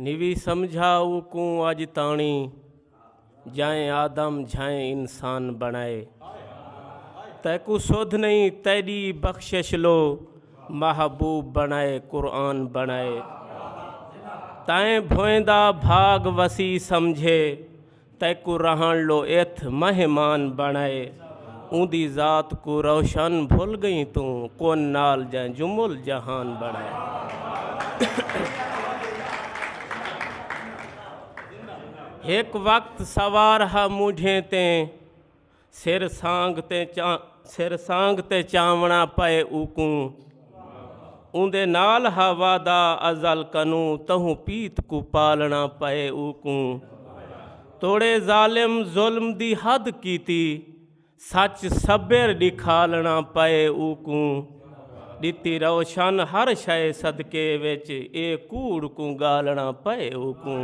نوی سمجھا او کوں اج تاݨی جائیں آدم جھائیں انسان بݨائے تیکوں سدھ نئیں تیݙی بخشش لو محبوب بݨائے قرآن بݨائے تائیں بھوئیں دا بھاڳ وسیع سمجھے تیکوں رہݨ لو اتھ مہمان بݨائے اوندی ذات کوں روشن بھل ڳئیں توں کون نال جئیں جمل جہان بݨائے۔ ہک وقت سوار ہا مونجھیں تیں سر سانگ تے چا سر سانگ تے چاونا پئے اوکوں اوندے نال ہا وعدہ ازل کنو تہوں پیت کو پالنا پئے اوکوں توڑے ظالم ظلم دی حد کیتی سچ صبر ڈکھالنا پئے اوکوں ڈتی روشن ہر شے صدقے وچ اے کوڑ کو گالنا پئے اوکوں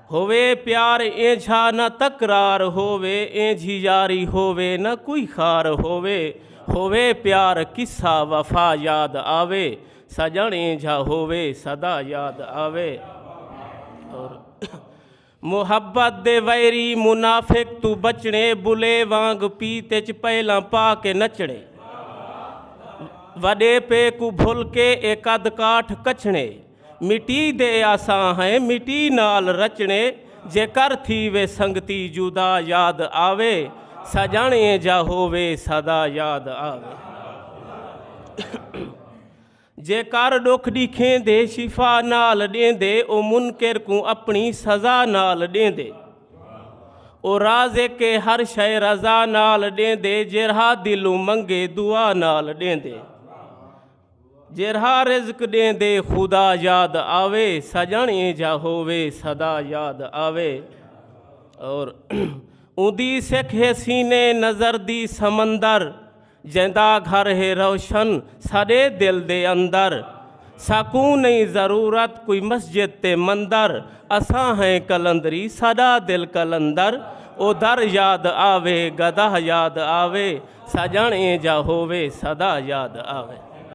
ہووے پیار اینجھا نہ تکرار ہووے اینجھی یاری ہووے نہ کوئی خار ہووے ہووے پیار قصہ وفا یاد آوے سجن اینجھا ہووے سدا یاد آوے اور محبت دے ویری منافق تو بچنے بلے وانگ پیت اچ پہلاں پا کے نچنے وڈے پے کو بھل کے اے قد کاٹھ کچھنے مٹی دے اساں ہیں مٹی نال رچنے جے کر تھیوے سنگتی جدا یاد آوے سجن ایں جا ہووے سدا یاد آوے جے کر ڈکھ ڈیکھیں دے شفا نال ڈیندے او منکر کوں اپنی سزا نال ڈیندے او رازق ہر شے رضا نال ڈیندے جیرھا دلوں منگے دعا نال ڈیندے۔ جیرھا رزق ڈیندے خدا یاد آوے سجن اینجھا ہووے صدا یاد آوے اور اوندی سکھ ہے سینے نظر دی سمندر جیندا گھر ہے روشن ساڈے دل دے اندر ساکوں نہیں ضرورت کوئی مسجد تے مندر اساں ہیں کلندری ساڈا دل کلندر او در یاد آوے گدہ یاد آوے سجن اینجھا ہووے صدا یاد آوے